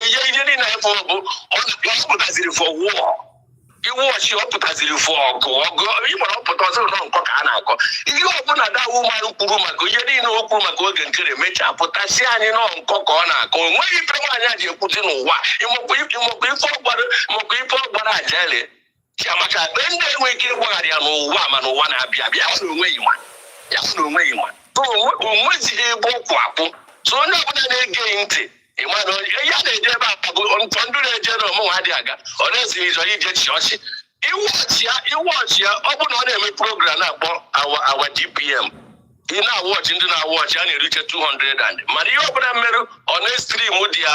ihe ihe niile anyị fụrụ bụ ọ pụtaziri fọ wụọ iwu ọchị ọ pụtaziri fọ ọgụ ọgụ ịgbara ọ pụta sị na ọ nkọ ka a na-akọ ihe ọbụla dawu mmanụ kwuru maka ihe niile o kwuru maka oge nkere mechaa pụta sị anyị na ọ nkọ ka ọ na-akọ o nweghị ife nwaanyị a ji ekwuzi n'ụwa ị makwa ife ọgbara makwa ife ọgbara ajali chiamaka be ndị enwe ike ịgbaghara ya n'ụwa ma n'ụwa na-abịa abịa ya sị na o nweghị nwa ya sị na o nweghị nwa so o nwe- o nwezighị ebe ọ kwụ akwụ so onye ọbụla na-ege ya ntị ị ma na onye- ihe a na-eje ebe a bụ ntọ ndị na-eje na mụ nwa adịghị aga ọ na-ezighị ịzọ ije chi ọchị iwu ọchị ya iwu ọchị ya ọ bụrụ na ọ na-eme program na-akpọ awa awa dpm ị na-awatch ndị na-awatch ya na-erite 200 and mana ihe ọbụla m mere ọ na-estream dị ya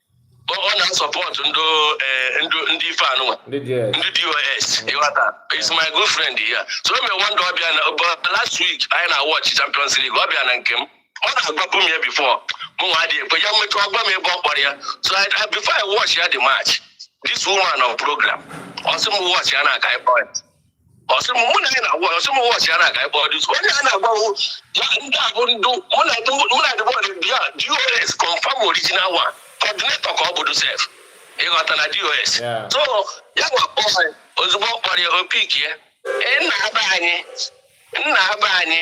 ọ na-asupport ndị eh, ndị ife anụnwa ndị dos ị ghọta is my good friend ya so o mere one day ọ bịa na last week anyị na watch champions league ọ bịa na nke m ọ na-agwapụ m ya before mụ nwa adịghị ekwe ya mmechi ọ gwa m ebe ọ kpọrọ ya so before I watch ya the match this woman on program ọ sị m watch ya na-aga ịkpọ ya ọ sị m mụ na gị na-agwa ọ sị m watch ya na-aga ebe ọ dị onye a na-agbawo ya ndị a bụ ndị mụ na ndị mụ na ndị bọọdụ bịa dos confirm original one coordinator ka ọ bụ dị sef ị ghọtara dos so ya wee kpọọ ozugbo ọ kpọrọ ya ọ pick ya nna be anyị nna be anyị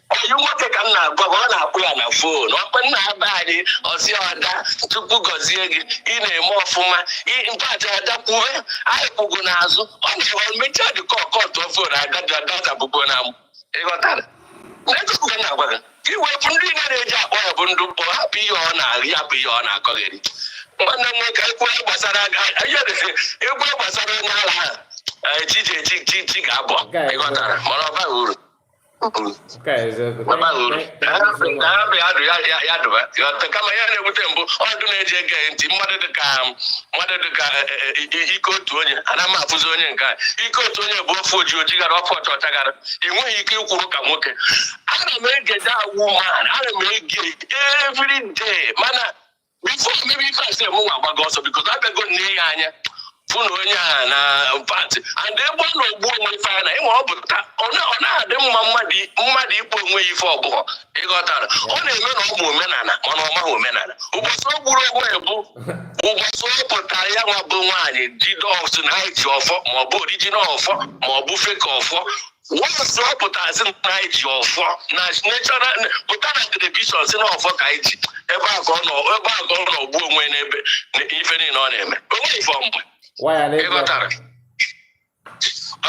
anyị nwoke ka m na-agwa ọ na-akpọ ya na fon ọ kpọ nna be anyị ọ sị ada chukwu gọzie gị ị na-eme ọfụma mpaja ada kwuwe anyị kwụ gị n'azụ ọ na-ewe mechaa dịka ọ cut fon agadi adọta bụgo na ị ghọtara netọk ka m na-agwa gị gị wepụ ndị na na-eji akpọ ya bụ ndị mkpọ hapụ ihe ọ na-arị hapụ ihe ọ na-akọgheri nwanne m nwoke egwu gbasara egwu gbasara onye ala ha chi ga-abụ ị ghọtara mana ọ baghị uru kama ihe na-ewute m bụ otu na-eji ege ntị mmadụ dịka mmadụ dịka e, e, e, ike otu onye ana m afụzi onye nke ike otu onye bụ ọ fụ oji oji gara ọ fụ ọcha ọcha gara ị nweghị ike ịkwụrụ ka nwoke ana m ege dawu ma ana m ege every day mana before mebe ife a sị mụ nwa agbago ọsọ biko na abịago m nee ya anya fụ na onye a na pati and egbe na ogbu onwe ife a na ịnwe ọ pụta ọ na- ọ na-adị mma mmadụ i- mmadụ ịkpọ onwe ya ife ọ bụghọ ị ghọtara ọ na-eme na ọ ma omenala mana ọ maghị omenala ụbọchị o gburu onwe ya bụ ụbọchị ọ pụtara ya nwa bụ nwaanyị jide ọ sị na ha ji ọfọ ma ọ bụ original ọfọ ma ọ bụ fake ọfọ wọsụ ọ pụta sị na anyị ji ọfọ na national pụta na telivishọn sị na ọfọ ka anyị ji ebe a ka ọ nọ ebe a ka ọ nọ gbuo onwe n'ebe na ife niile ọ na-eme o nweghị ife ọmgbe waya n'ebe ị ghọtara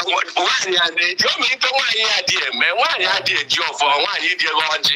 nwaanyị a na-eji ọmịiko nwaanyị adị eme nwaanyị adị eji ọfọ nwaanyị adị agọ ọjị